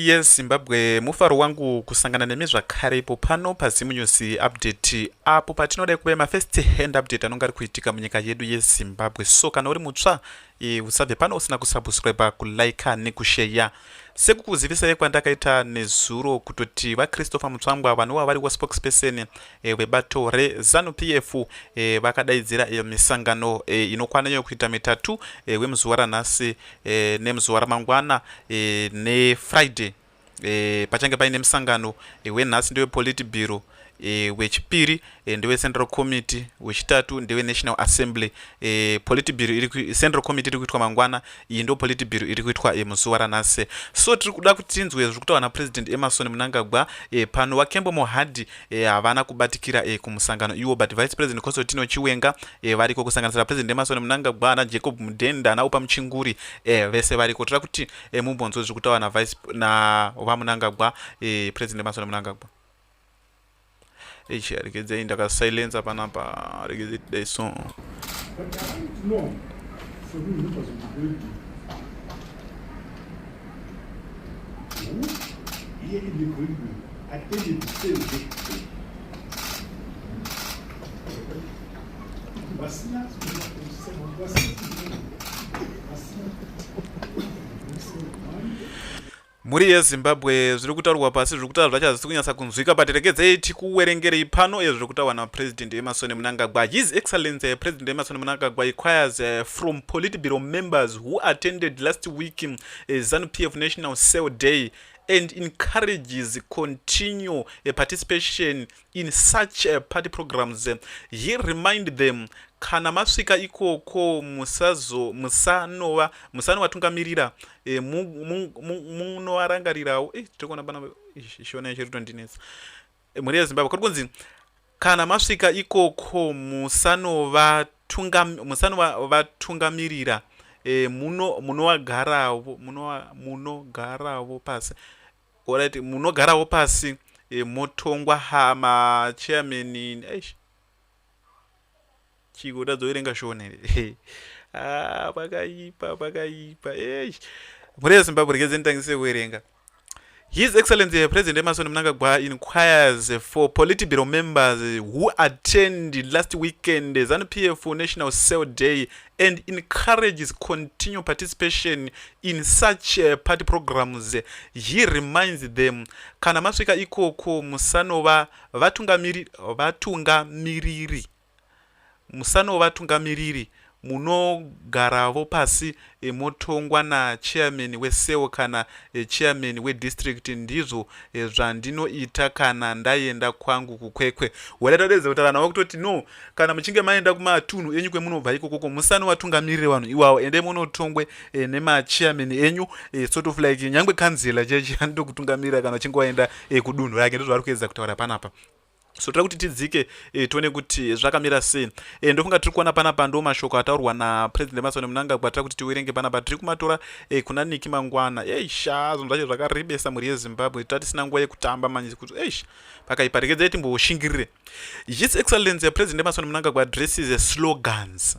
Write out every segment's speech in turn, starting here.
Yes Zimbabwe mufaro wangu kusangana nemi zvakare ipo pano paZim News update apo patinodai kuve mafirst hand update anonga ari kuitika munyika yedu yeZimbabwe so kana uri mutsva e, usabve pano usina kusubscribe kulike nekusheya sekukuzivisai kwandakaita nezuro kutoti vachristopher mutsvangwa vanova vari waspokesperson e, eh, vebato rezanu p f e, eh, vakadaidzira e, misangano e, inokwana iyo kuita mitatu e, wemuzuva ranhasi e, nemuzuva ramangwana e, nefriday e, pachange paine musangano e, wenhasi ndewepolitibiro e, wechipiri e, ndewecentral committee wechitatu ndewenational assembly e, politibiro iri central committee iri kuitwa mangwana iyi ndo politibiro iri kuitwa e, muzuva ranhasi so tiri kuda kuti tinzwe zviri kutaura napresident emerson munangagwa e, pano wakembo mohadhi eh, havana kubatikira eh, kumusangano iwo but vice president consotino chiwenga eh, variko kusanganisira president emasoni munangagwa ana jacob mudenda ana upa muchinguri eh, vese variko toda kuti eh, mumbonzwe zviri kutaura navice na vamunangagwa eh, president emasoni munangagwa ichi regedzai ndakasilensa panapa regedzai dai so Here in the green room, attended the same day. Vasina kuenda kumusana, vasina kuenda, vasina mhuri yezimbabwe zviri kutaurwa pasi zviri kutaura zvacho hazvisi kunyatsa kunzwika but regedzei tikuwerengerei pano ezviri kutaurwa napresident emasoni munangagwa his excellency president emasoni munangagwa requires eh, from politburo members who attended last week uh, eh, ZANU-PF National Cell Day and encourages continue uh, participation in such uh, party programs. Uh, he remind them kana masvika ikoko musazo musanova musanovatungamirira e, munovarangarirawo mu, mu, mu, e, tiri kuona pana shona yacho ritondinetsa mhuri yezimbabwe kuri kunzi kana masvika ikoko musanovatungamirira e, muno munowagaravo munogaravo pasi orit munogaravo pasi e, motongwa ha machairman eish chiko utadza kuverenga shona here ah, pakaipa pakaipa eish mhuri yezimbabwe regedzeni tangise kuverenga His Excellency President Emerson Mnangagwa inquires for Politburo members who attend last weekend ZANU PF National Cell Day and encourages continued participation in such uh, party programs. He reminds them kana masvika ikoko musanova vatungamiriri vatunga musanovatungamiriri munogaravo pasi motongwa na chairman we cell kana chairman we district ndizvo zvandinoita kana ndaenda kwangu ku Kwekwe wada tadedza kuti vanhu vakutoti no kana muchinge maenda kuma tunhu enyu kwemunobva ikokoko musanovatungamirire vanhu iwawo ende munotongwe eh, nema chairman enyu eh, sort of like nyangwe kanzila chechi anotokutungamirira kana uchinge waenda eh, kudunhu rake ndizvo vari kuedza kutaura panapa so toda kuti tidzike e, tione kuti zvakamira sei e, ndofunga tiri kuona panapa ndo mashoko ataurwa napresident emasoni munanga kwatira kuti tiwerenge panapa tiri kumatora e, kuna niki mangwana eisha zvinhu zvacho zvakaribesa mhuri yezimbabwe tira tisina nguva yekutamba manyizi kuti eish pakaipa regedzai timboshingirire his excellence yapresident emasoni munanga kwaadresses slogans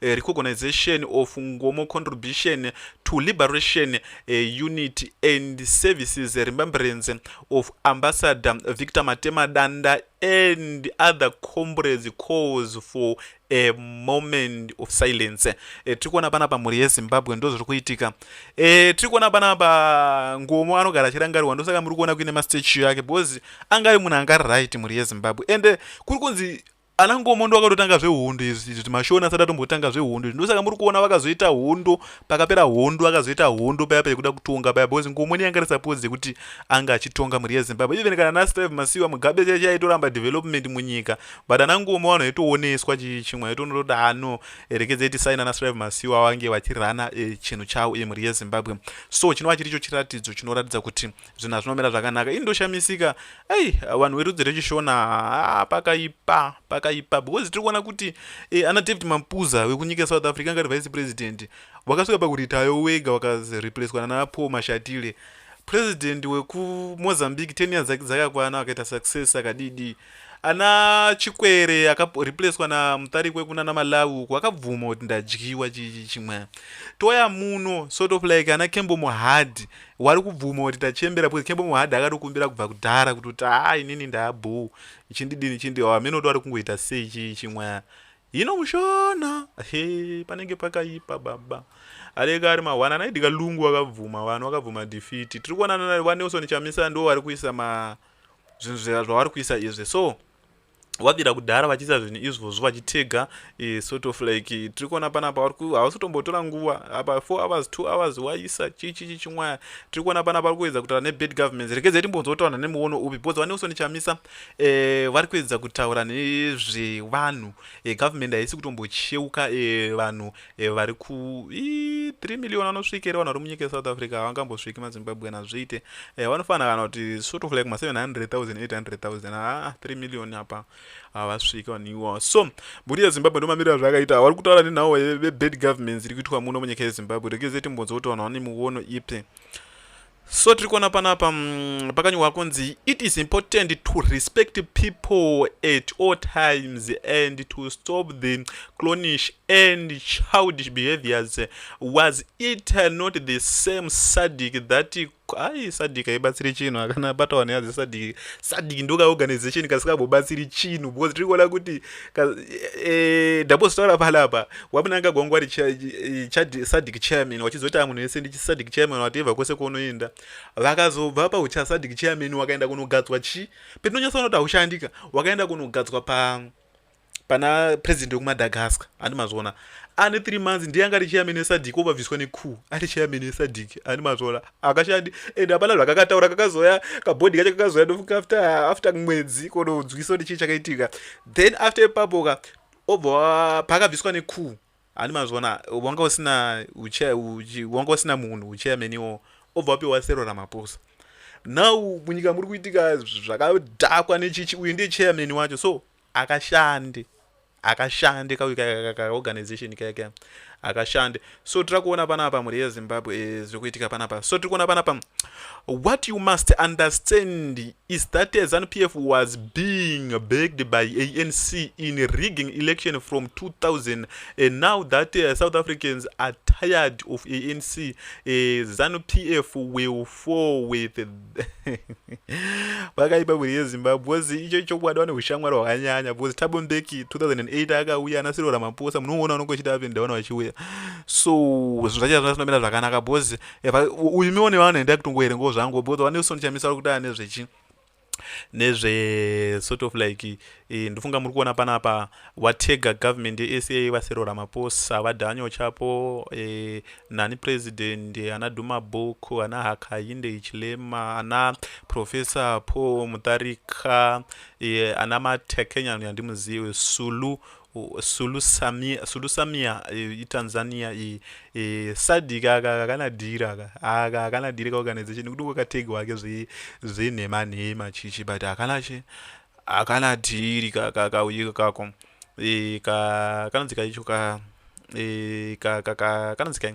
eh, recognition of ngomo contribution to liberation eh, unit and services remembrance of ambassador victor matema danda and other comrades calls for a moment of silence e, eh, tiri kuona panapa mhuri yezimbabwe ndo zviri kuitika e, tiri kuona panapa ngomo anogara achirangarirwa ndosaka muri kuona kuine mastatue yake because anga ari munhu anga ari right mhuri yezimbabwe ende kuri kunzi Ana Ngomo ndovakatotanga zvehondo izvi izvi mashoni asati atombotanga zvehondo izvi ndosaka muri kuona vakazoita hondo pakapera hondo akazoita hondo paya paya kuda kutonga paya because Ngomo ndiye anga risapodzi yekuti anga achitonga mhuri yeZimbabwe even kana naSteve Masiwa Mugabe chaiye chaiye aitoramba development munyika but ana Ngomo vanhu aitooneswa chimwe aitonototi ano erekedzai tisaina naSteve Masiwa vange vachirana eh, chinhu chavo iye mhuri yeZimbabwe so chinova chiricho chiratidzo chinoratidza kuti zvinhu hazvinomira zvakanaka ini ndoshamisika ei vanhu verudzi rechishona haa pakaipa pakaipa because tiri kuona kuti e, ana david mapuza wekunyika south africa angari vice president wakasvika pakuritayo wega wakareplacwa nana paul mashatile president wekumozambique ten years dzake dzakakwana akaita success akadidii ana chikwere akareplacwa namutarikwe kuna namalawi uku akabvuma kuti ndadyiwa chimwe toya muno sort of like ana kembo muhadhi wari kubvuma kuti tachembera because kembo muhadhi akatokumbira kubva kudhara kuti kuti haa inini ndaabhoo ichindidini chindi hameno kuti wari kungoita sei chii chimwe hino mushona he panenge pakaipa baba aleka ari mahwana anaidika lungu wakabvuma vanhu wakabvuma defiti tiri kuonana vanelson chamisa ndo vari kuisa ma, ma zvinhu zvavari kuisa izvi so wabira kudhara vachiisa zvinhu izvozvo vachitega e, sort of like tiri kuona panapa hausi kutombotora nguva apa four hours two hours waisa chichichi chimwaya tiri kuona panapa vari kuedza kutaura nebad government rekedzai timbonzotaura nemuono upi because vaneuson chamisa e, vari kuedza kutaura nezvevanhu e, government haisi kutombocheuka e, vanhu e, vari ku 3 million vanosvika ere vanhu vari munyika yesouth africa havangambosviki mazimbabwean hazviite e, vanofanira kana kuti sort of like ma 700800 haa 3 million apa havasviki vanhu iwawo so mburi yezimbabwe ndomamiriro azvakaita havari kutaura nenhau vebad governments iri kuitwa muno munyika yezimbabwe rekeze timbonzwa kuti vanhu vane muono ipi so tiri kuona panapa mm, pakanyorwa kunzi it is important to respect people at all times and to stop the clonish and childish behaviors was it not the same sadic that ai sadic haibatsiri chinhu akana batawana yadze sadic sadic ndoka organization kasikagbobatsiri chinhu because tiri kuona kuti Eh, ndambozotaura e, palapa wamunanga gwangu wari eh, sadic chairman wachizoita munhu wese ndichisadic chairman wateva kwese kwaunoenda vakazobva paucha sadic chairman wakaenda kunogadzwa chi petinonyatsa unoti haushandika wakaenda kunogadzwa pa pana president wekumadagaska andi mazviona ane three months ndiye anga ari chairman wesadic obabviswa neku ari chairman wesadic andi mazviona akashandi and hapana zvakakataura kakazoya kabhodhi kacho kakazoya ndofunga after after mwedzi kononzwisa kuti chii chakaitika then after ipapoka obva pakabviswa nekuu handi mazvona wanga usina wanga usina munhu uchairmaniwo obva wapiwa sero ramaposa now munyika muri kuitika zvakadhakwa nechichi uyu ndiye chairman wacho so akashande akashande kauyu kaorganization kaya kaya akashande so tiri kuona panapa mhuri yezimbabwe eh, zviri kuitika panapa so tiri kuona panapa what you must understand is that zanu p f was being begged by a n c in rigging election from 2000 and now that uh, south africans are tired of a n c uh, eh, zanu p f will four with vakaipa mhuri yezimbabwe bcoz icho chokwadi vane ushamwari hwakanyanya bcoz tabo mbeki 2008 akauya ana sirora maposa munoona unonge uchiti apinda vana vachiuya so zvinhu zvacho hazvina zvinomira zvakanaka bcoz uyu mione vanhu enda kutongoerengawo zvangu bcoz vane usoni chamisa vari kuti ane zvechi nezve sort of like e, ndofunga muri kuona panapa watega government yesa vasero ramaposa vadanyo chapo e, nani president ana duma book ana hakayinde ichilema ana professor paul mutarika e, ana matekenya yandimuzive sulu Sulusamia, Sulusamia eh, iTanzania iyi eh, sadc aka kakana dhiri aka aka hakana dhiri kaorganization nekuti kwakategi wake zvenhema nhema chichi but hakana chi hakana dhiri kakauyi kako eh, kanonzi kaicho ka eh, kanonzi kai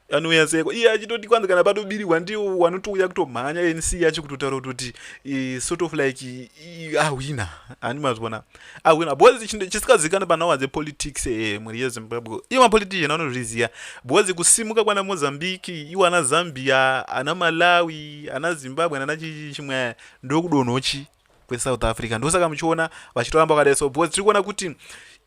anouya seko iye achitoti kwanzi kana patobirigwa ndiwo wanotouya kutomhanya nc yacho kutotaura kutoti sort of like ahwina handi mazvona ahwina because chisikazikana panawa dzepolitics e mhuri yezimbabwe iwo mapolitician anozviziva because kusimuka kwana mozambique iwo ana zambia ana malawi ana zimbabwe nana chimwe ndokudonhochi kwesouth africa ndosaka muchiona vachitoramba vakadai so because tiri kuona kuti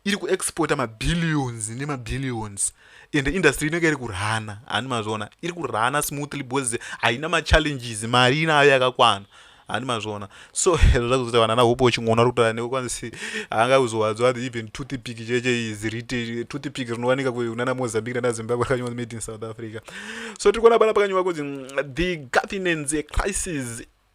iri kuexporta mabillions nemabillions ende industry inenge iri kurhana handi mazviona iri kurhana smoothly because haina machallenges mari inayo yakakwana handi mazviona so hezvo zvakuzoita vanana hope uchingoona ri kutaura newe kwanzi haanga kuzowadzwa ati even toothpick cheche is rite toothpick rinowanika kunana mozambique nana zimbabwe rakanyiwa made in south africa so tiri kuona pana pakanyiwa kunzi the governance crisis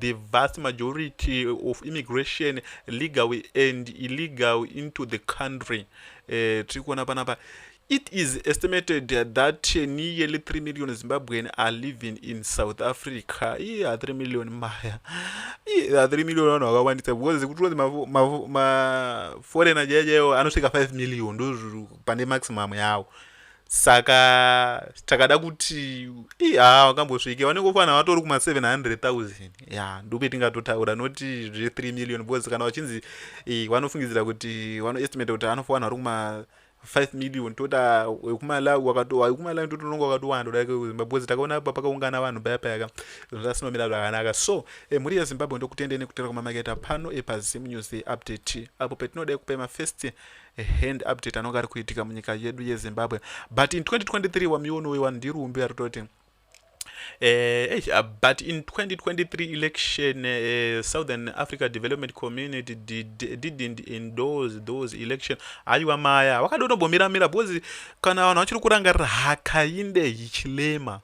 the vast majority of immigration legal and illegal into the country eh, tiri kuona panapa it is estimated that nearly 3 million zimbabwean are living in south africa iye a 3 million maya iye a 3 million vanhu vakawandisa because kuti unzi maforeigner jaya jayo anosvika 5 million ndozviri pane maximum yawo saka takada kuti ha wakambosvike vanenge ufanira vatori kuma 700000 ya ndope tingatotaura noti zve 3 million bcause kana vachinzi vanofungidzira kuti vanoestimata kuti anofanira vari kuma 5 million toda wekumalawi wakatomalawi totononga wakatowanda kudai kwezimbabwe bcause takaona apa pakaungana vanhu paya payaka zvinhu zvasinomira zvakanaka so e, mhuri yezimbabwe ndokutendei nekutera kwamamaketa pano epazimu news update apo petinodai kupai mafirst a hand update anonga ari kuitika munyika yedu yezimbabwe but in 2023 wamiwono wewa ndiri umbi ari toti Eh, uh, but in 2023 election, uh, Southern Africa Development Community did, didn't endorse those election. Aiwa maya, wakadonobomira mira, because kana vanhu vachiri kurangarira hakainde hichilema.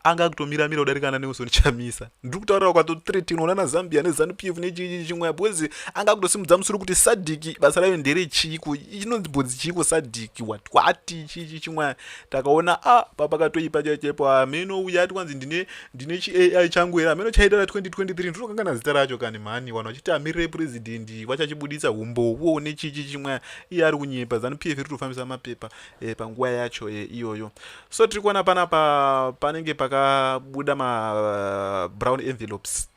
anga akutomira mira kudarika na Nelson Chamisa ndiri kutaurira kwato 13 unoona na Zambia ne Zanu PF ne chii chimwe because anga akutosimudza musoro kuti Sadik basa rayo ndere chiiko inonzi bodzi chiiko Sadik what what chii chimwe takaona a ah, papa katoipa chaipo ameno ah, uya ati kwanzi ndine ndine chi AI changu here ameno chaita ra 2023 ndinokangana zita racho kani mhani vanhu vachiti amirire president vachachibuditsa humbowo ne chii chimwe iye ari kunyepa Zanu PF iri kutofambisa mapepa eh, panguva yacho eh, iyoyo so tiri kuona panapa panenge pakabuda ma brown envelopes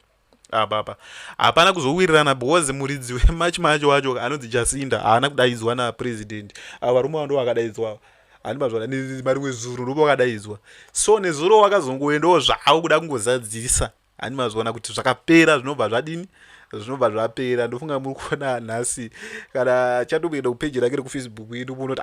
apapa hapana kuzowirirana because muridzi wemachi macho wacho anonzi jasinda haana kudaidzwa napresident avo varume vando vakadaidzwa handimazvana marimwe zuro ndopo vakadaidzwa so nezuro wakazongoendawo zvavo kuda kungozadzisa handimazvana kuti zvakapera zvinobva zvadini zvinobva zvapera ndofunga muri kuona nhasi kana chatokuenda kupeji rake rekufacebook indu munoti